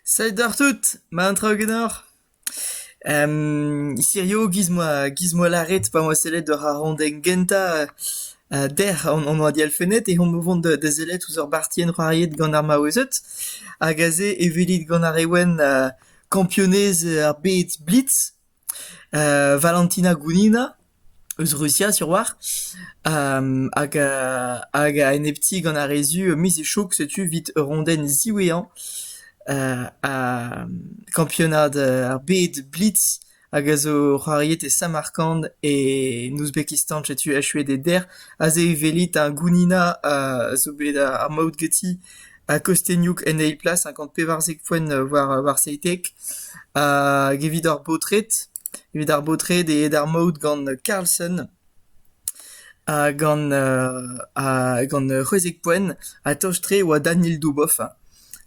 Salut àr tout, ma an traoù ganeoc'h? hirio giz 'moa giz 'moa lâret pa 'moa sellet war ar randenn gentañ dec'h an an oad elfenned eh omp o vont da da sellet ouzh ur bartienn c'hoariet gant ar maouezed hag aze e welit gant ar re wenn kampionez ar bed blitz. Valentina Gounina, eus Rusia sur-walc'h, hag hag a enepti gant ar re zu miz Echoug, setu 'vit ur rondenn ziwezhañ kampionad ar bed blitz hag a zo c'hoariet e Samarkand e Ouzbekistan, setu echuet e dec'h. Aze e welit ar Gounina a zo bet ar maout ganti a kostennioù en eil plas, cinquante pevarzek foenn war war seitek, hag evit ar baotred, evit ar baotred eo d'ar maout gant Carlson, ha gant ha gant c'hwezek poenn, ha tost-tre e oa Daniel Dubov,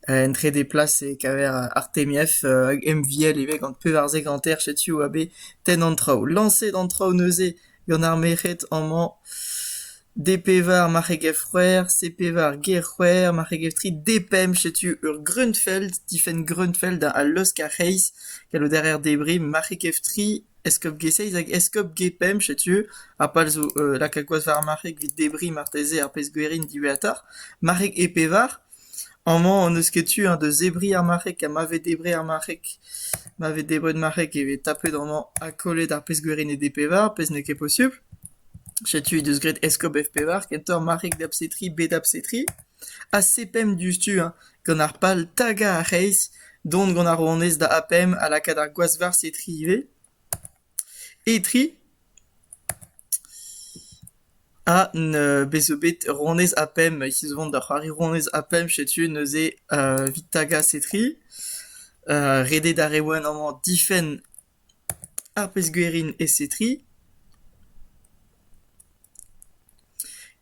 en trede plas e kaver Artemiev hag MVL ivez gant pevarzek hanter, setu oa bet tenn an traoù. Lañset an traoù neuze gant ar merc'hed amañ D-pevar marc'heg-c'hwec'h, C-pevar ger-c'hwec'h, marc'heg-tri D-pemp, setu ur Grunfeld, difenn Grunfeld a laosk ar c'hreiz, gallout a reer debriñ marc'heg-tri, eskob-ge-seizh hag eskob-ge-pemp, setu ar pal zo lakaat gwaz war ar marc'heg evit debriñ marteze ar pezh-gwerin diwezhatoc'h. Marc'heg E-pevar. Amañ hon eus ket tu eñ da zebriñ ar marc'heg ha ma vez debret ar marc'heg. Ma vez debret marc'heg e vez tapet amañ ha kollet ar pezh gwirinet e pevar, pezh n'eo ket posupl. Setu he deus graet eskob F-pevar kentoc'h marc'heg da bsetri bet da bsetri. Ha sepemp diouzhtu eñ gant ar pal tagañ ar c'hreiz, dont gant ar ronez da A-pemp ha lakaat ar gwazh war setri ivez. Etri ha bez' zo bet ronez ha pemp hiziv on da c'hoari ronez ha pemp setu neuze Vitagas Etri, redet ar re wenn amañ difenn ar pezh-gwerin e Setri.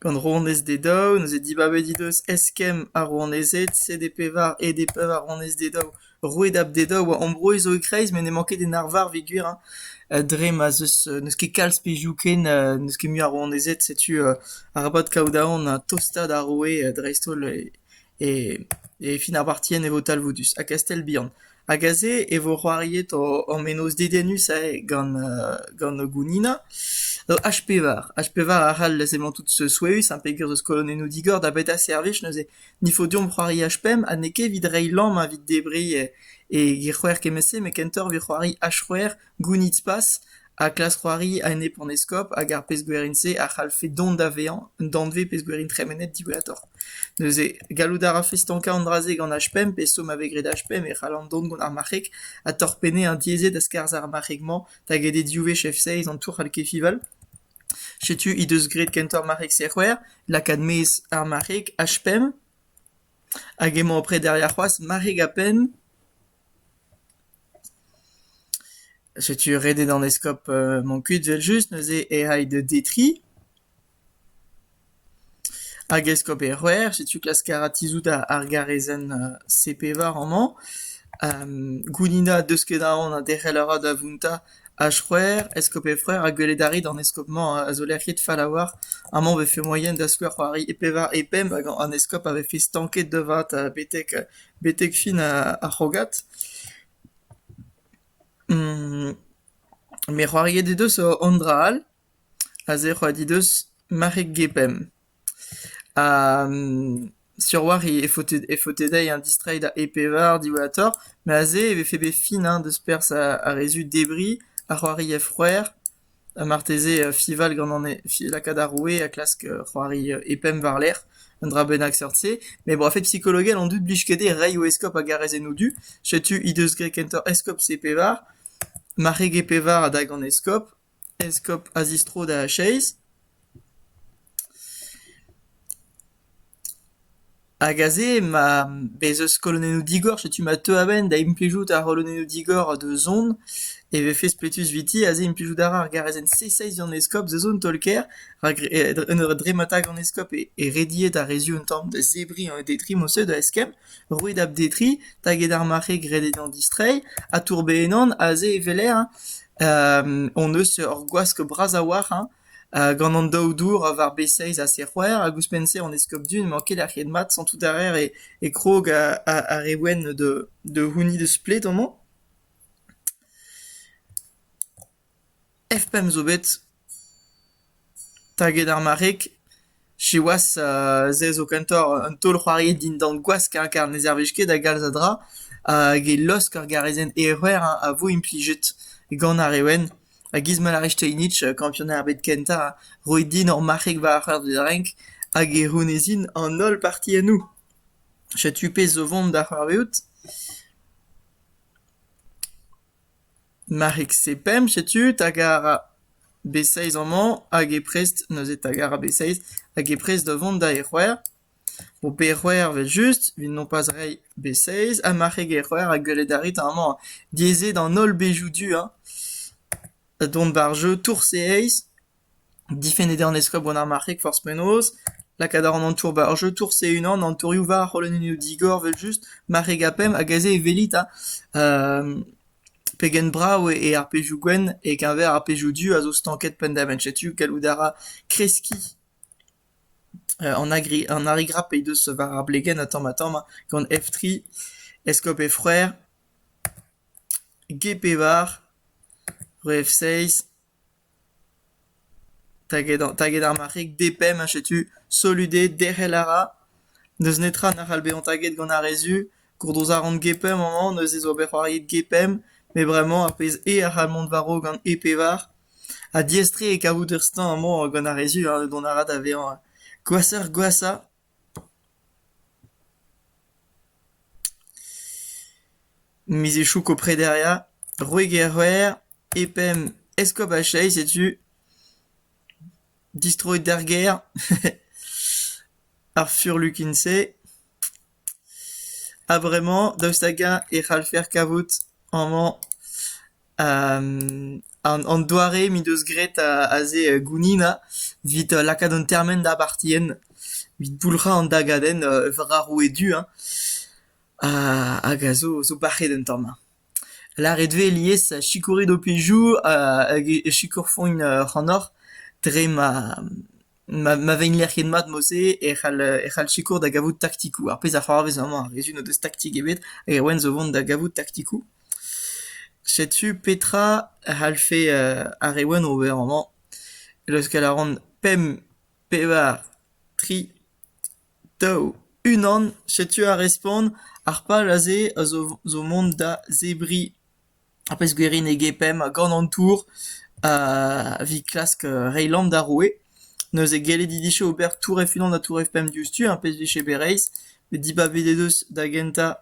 Gant rouanez Dedao neuze dibabet he deus eskemm ar rouanezed sede pevar ede pevaronez Dedao. Roueed ab Dedao a ambroez zo e-kreiz met n'emañ ket en arvar peogwir hein dre ma'z eus n'eus ket kalz pezhioù ken n'eus ket mui a rouanezed. Setu arabat kaout aon ha tostaat ar roue dreist-holl E fin ar partien e vo talvoudus ha Kastell Bihan hag aze e vo c'hoariet hor menoz dedennus-se gant gant Gounina H-pevar. H-pevar a c'hall emañ tout souezhus ha peger eus kolonennoù digor da beta servij neuze n'il faut deomp c'hoari H-pemp ha n'eo ket evit reiñ lamm ha evit debriñ e c'hwec'h kement-se met kentoc'h evit c'hoari H-c'hwec'h Gounid Spas Ha klask c'hoari a-enep an eskob hag ar pezh-gwerin-se a c'hallfe dont da vezañ un danvez pezh-gwerin tremenet diwezhatoc'h. Neuze, gallout a rafe stankañ an dra-se gant H5 pe stourm a vez graet H5 e c'hallan dont gant ar marc'heg ha torpennet an diaezet a skarzh ar marc'heg-mañ da get e div wech F6 an tour c'hall Kefival. Setu he deus graet kentoc'h marc'heg C-c'hwec'h, lakaat maez ar marc'heg H5. Hag emañ après derrière c'hoazh marc'heg a-penn. Setu ret eo d'an eskob mont kuit evel-just, neuze e ay da detriñ. Hag eskob e C'hwec'h, setu klask a ra tizhout ar garezenn C-pevar amañ. Gounina deus ket aon ha derc'hel a ra da vountañ H-C'hwec'h, eskob e C'hwec'h, ha gwelet a rit an eskob-mañ a zo lec'hiet fall-a-walc'h. Amañ e vefe moaien da skouer c'hoari e pevar, e pemp, hag an eskob a vefe stanket da vat betek betek fin ar c'hrogad. Me c'hoariet he deus an dra all, aze e c'hoariet he deus mare gepemp. Ha sur-walc'h e faote dezhi an distreiñ da e-pevar diwezhatoc'h, met aze e vefe bet fin deus perzh ar re-zu debriñ, ar c'hoari a-frouezh. Ha marteze fiñval ganin lakaat ar roue ha klask c'hoari e-pemp war-lerc'h, un dra bennak seurt-se. Met bo a-fet psikologel on deuet 'blij ket dezhe reiñ o eskob a garez en o du. Setu he deus graet kentoc'h eskob C-pevar, marc'heg E-pevar a-dak an eskob, eskob a zistro da Chase. Hag aze ma bez eus kolonennoù digor, setu ma teu a-benn da implijout ar c'holonennoù digor da zont e vefe spletus eviti aze implijout a ra ar garazenn C6 d'an eskob da zont taol-kaer rak en ur dremmata gant eskob e rediet ar re zu un tamm da zebriñ an detrimoù-se da eskemm, roet ab-detriñ taget ar marc'heg ret eo dezhañ distreiñ ha tourbezh ennañ aze e weler hon eus ur gwask bras a-walc'h. Gant an daou dour war b-seizh ha c-c'hwec'h hag ouzhpenn-se an eskopti n'emañ ket lec'hiet mat santout a raer e krog ar re wenn da c'hounit eus pled amañ. F-pemp zo bet taget ar marc'heg. Siwazh, se zo kentoc'h un taol-c'hoari dindan gwask hein, kar ne servij ket da galz a dra hag e laosk ar garezenn erruer hein a vo implijet gant ar re wenn. Ha giz ma lârez Steinitz, kampionad ar bed kentañ, roit din ur marc'heg war ar c'heur da renk hag e c'hounezin an holl partiennoù. Setu pezh zo 'vont da c'hoarvezout. Marc'hig-se pemp, setu, hag a ra b-seizh amañ, hag e prest neuze 'ta gara b-seizh, hag e prest da vont da e c'hwec'h. Bo pe c'hwec'h evel-just, 'vit nompaz reiñ b-seizh, ha marc'hig e c'hwec'h a geulet a rit amañ. Diaes eo d'an holl bezhioù du, hañ. Dont war-jeu tour-se aes. Difennet eo an eskob gant ar marc'heg forzh penaos, lakaat a ran an tour 'ba ur jeu tours e-unan, an tourioù war ar c'holonennoù digor 'vel-just, marc'heg ha pemp hag aze e welit ha pegen brav eo ar pezhioù gwenn e-keñver ar pezhioù du a zo stanket penn-da-benn, setu gallout a ra kreskiñ an agri an arigrap he deus war ar blegenn ha tamm-ha-tamm gant F3, Eskob he froer, G-Pevar, Re F6. Taget ar marc'heg depemp ha setu solut eo derc'hel a ra. N'eus netra na c'hall bezañ taget gant ar re zu. Gourdoz a ran gepemp amañ, neuze zo ober c'hoariet gepemp. Met bremañ ar pezh eo a c'hall mont war-raok gant e pevar. Ha diaes-tre eo kavout ur stañ amañ gant ar re zu, dont a ra da vezañ gwashoc'h-gwashañ. Miz Echoù Koprederia, Roeger-C'hwec'h, e penn eskob ar Chais setu distroet d'ar gêr ar furlukin-se a-vremañ daoust hag-eñ e c'hallfer kavout amañ An doare m'he deus graet aze Gounina evit lakaat an termen da bartienn, evit boulc'hañ an dagadenn war ar roue du hein, hag a zo bac'het un tamm. Lâret eo alies sikourit ho pezhioù hag e sikorfont ac'hanoc'h dre ma Ma ma vegner ket mat mod-se e c'hall e c'hall sikour da gavout taktikoù. Ar pezh a c'hoarvez amañ, ar rezun o deus taktik ebet hag Erwan zo vont da gavout taktikoù. Setu petra a c'hallfe ar Erwan ober amañ. Leuskel a ran pemp, pevar, tri, daou, unan. Setu ar respont. Ar pal aze a zo zo mont da zebriñ. ar pezh gwirienege pemp gant an tour evit klask reiñ lamm d'ar roue. Neuze gellet he dije ober tour F-unan ha tour F-pemp diouzhtu, ar pezh vije bet reizh. Bet dibabet he deus da gentañ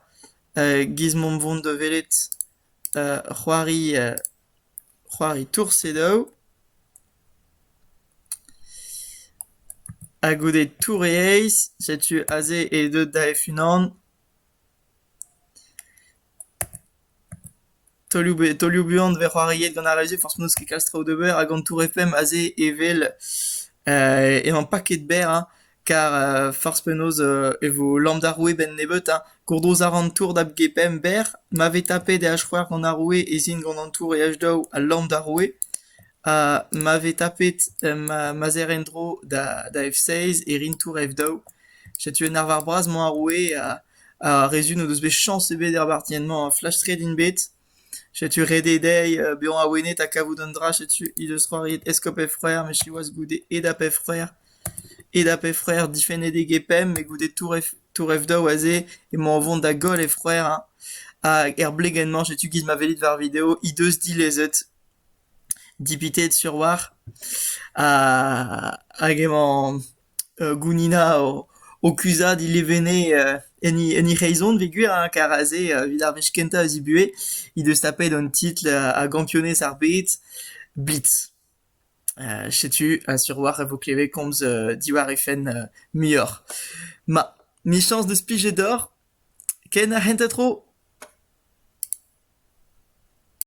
giz mont vont da welet c'hoari c'hoari tour C-daou. Ha goude tour e eizh, setu aze he deud da F-unan. Taolioù buan e vez c'hoariet gant ar radio forzh penaos, ket kalz traoù d'ober hag an Tour FM aze evel emañ paket berr hein, kar forzh penaos e vo lamm d'ar roue 'benn nebeut hein. Gourdrouz a ran tour da b-g-pemp berr, ma vez tapet e h-c'hwec'h gant ar roue ez in gant an tour e h-daou ha lamm d'ar roue. Ha ma vez tapet ma zerr en-dro da f-seizh e rin tour f-daou. Setu un arvar bras 'mañ ar roue ha... Ar re zun o deus bet chañs ebet er bartienn-mañ flastret int bet. Setu ret eo dezhi bezañ awenet ha kavout un dra. Setu he deus c'hoariet Eskob he frer met siwazh goude Edap he frer. Edap he frer difennet eo Gepemp met goude touref daou aze emañ o vont da goll he frer hein. Hag er blegenn-mañ setu giz ma welit war video he deus dilezet dipitet sur 'walc'h. Ha hag emañ Gounina o kuzhat he levene en he c'hreizon peogwir kar aze evit ar wech kentañ a zibuhe he deus tapet an titl a gampionez ar bed blitz. Setu sur a-walc'h e vo klevet komz diwar he fenn muioc'h. Ma, michañs deus plijet deoc'h. Ken ar c'hentañ tro?